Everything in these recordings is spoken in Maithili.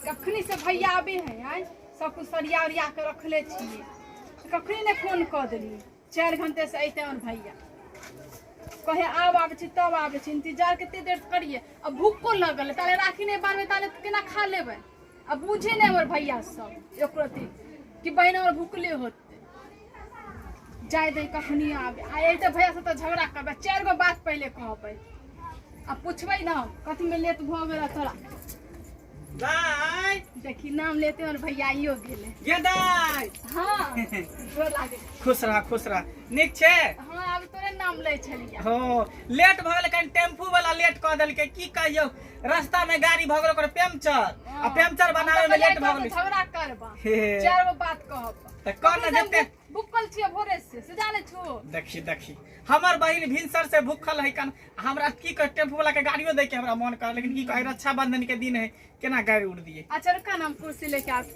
कखनी से भैया आबे है आज सब कुछ सरिया उरिया के रखले छिए कखनी ने फोन कऽ देली चारि घंटे से अइते हमर भैया कहे आब आबै छी तब आबै छी इंतजार कते देर करिए आ भूखो लगल है, ताले राखी नहि बारबै ताले केना खा लेबै आ बुझे नहि हमर भैया सब एको रत्ती कि बहिन हमर भूखले होत जाय दे कखनी आबे आ अयते भैया से तऽ झगड़ा करबै चारि गो बात पहिले कहबै आ पूछबै ने कथी में लेट भऽ गेल तोरा दाय देखी नाम लेते और भैया आइयो गेले गे दाय हाँ गोर लागे खुश रह खुश रह नीक छै हाँ आब तोरे नाम लै छलियै हो लेट भऽ गेल कनि टेम्पू वाला लेट कऽ देलकै की कहियौ रास्ता में गाड़ी भगल ओकर पंचर आ पंचर बनावे में लेट भगल झगड़ा करबा हे। चार गो बात कहब त कह न जते बुकल छिए भोरे से से जाने छु देखी देखी हमर बहिन भिनसर से भूखल है कन हमरा की कह टेम्पू वाला के गाड़ियों दे के हमरा मन कर लेकिन की कहे रक्षाबंधन के दिन है केना गाड़ी उड़ दिए अच्छा रुका ना हम कुर्सी लेके आब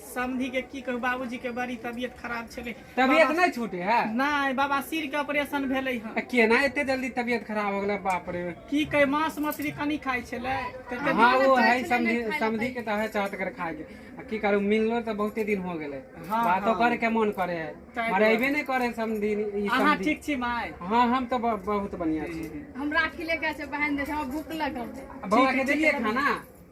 समधी के की कहू बाबूजी के बड़ी तबियत खराब छले तबियत बाबा- नहीं छूटे है नहीं बाबा सिर के ऑपरेशन भेले हन आ, केना एते जल्दी तबियत खराब हो गेलै बाप रे की कहे मांस मछली कनी खाई छले तऽ कनी- हाँ वो है समझी समझी के तो है चाहत कर खाए के आ, की करू मिललो तो बहुते दिन हो गेलै हाँ, बातो हाँ। करे के मन करे है ताहि मरे अबे नहीं करे समझी ई अहाँ समझी ठीक छी माय हाँ हम तो ब- बहुत बढ़िया छी हम राखी लेके आए छै बहन दे छै हमरा भूख लगल छै बौआ के ठीक है, देलिए ठीक है। खाना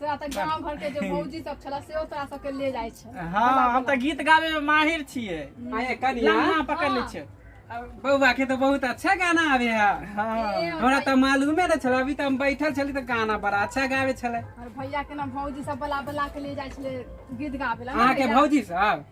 तोरा तऽ गाँव घर के जे मौजी सब छला से तोरा सबके ले जाइ छै हँ हम तऽ गीत गाबे में माहिर छियै आए कनिया लम्हा पकड़ ले छियै बौआ के तो बहुत अच्छा गाना आवे है हँ हमरा तऽ मालूमे न छल अभी तऽ हम बैठल छली तऽ गाना बड़ा अच्छा गावे छलै और भैया के ना भौजी सब बला बला के ले जाइ छले गीत गाबे ला अहाँके भौजी सब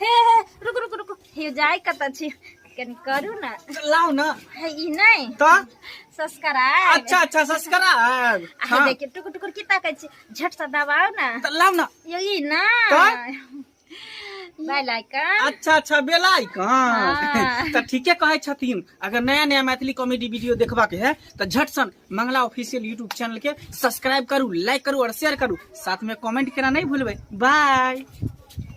हे हे रुक रुक रुक हे जाय कत छी कनी करू ना लाओ ना हे ई नहीं तो सब्सक्राइब अच्छा अच्छा सब्सक्राइब अरे हाँ देखिए टुकुर टुकुर की ताकै छी झट से दबाओ ना तो लाओ ना यो ई ना का? बाय लाइकन अच्छा अच्छा बेला आइकन हाँ। तो ठीके कहे छथिन अगर नया नया मैथिली कॉमेडी वीडियो देखबा के है तो झट सन मंगला ऑफिशियल यूट्यूब चैनल के सब्सक्राइब करू लाइक करू और शेयर करू साथ में कमेंट करना नहीं भूलबे बाय